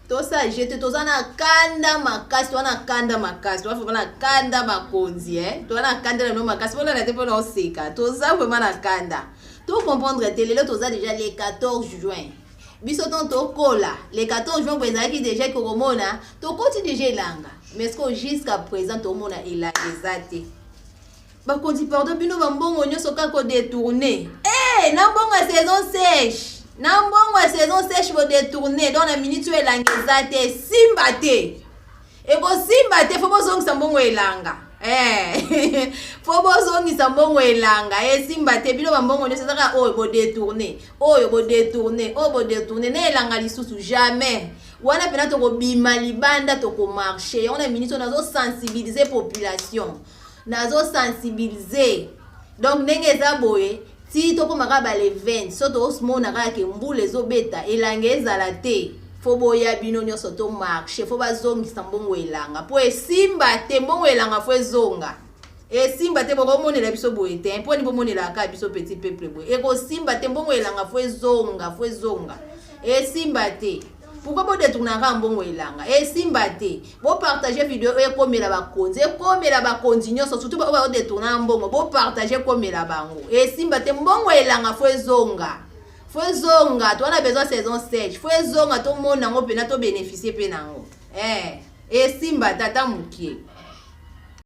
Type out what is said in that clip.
tosa jete toza na kanda makasi toza na kanda makasi toza vraimen na kanda bakonzi e eh. toza na kanda na bino makasi bolala te mpona oseka toza vraimen na kanda tocomprendre te lelo toza deja le 14 juin biso ntango tokola le 14 juin boye ezalaki deja kokomona tokoti deja elanga mais ce jusqu'à présent tomona elanga eza te bakonzi pardon bino bambongo nyonso kaka kodetourne e na mbongo ya saison sèche na mbongo ya saison sèche bodetourne donc na miniti oyo elanga eza te esimba te ekosimba te fo bozongisa mbongo elanga eh, fo bozongisa mbongo elanga esimba te bino bambongo nyonso ezaka oyo bodetourne oyo bodetourne oyo bodetourne na elanga lisusu jamais wana mpena tokobima libanda tokomarche yango na miniti oyo nazosensibilize population nazo sensibilize donc ndenge eza boye ti tokóma kaka bale 20 so tomona kaka ke mbula ezobeta elanga ezala te fo boya bino nyonso to marche fo bazongisa mbongo elanga mpo esimba te mbongo elanga fo ezonga esimba te bokomonela biso boye te mpo ni bomonelaka kaka biso petit peuple boye ekosimba te mbongo elanga fo ezonga fo ezonga esimba te pourquoi bo detournaka mbongo elanga esimba eh, te bo partage video oyo ekomela bakonzi ekomela bakonzi nyonso surtout baoyo bao detournaka mbongo bo partage ekomela bango esimba eh, te mbongo elanga fo ezonga fo ezonga to wana besoin saison 7 fo ezonga tomona yango mpena tobeneficie mpe na yango eh, esimba tata mokie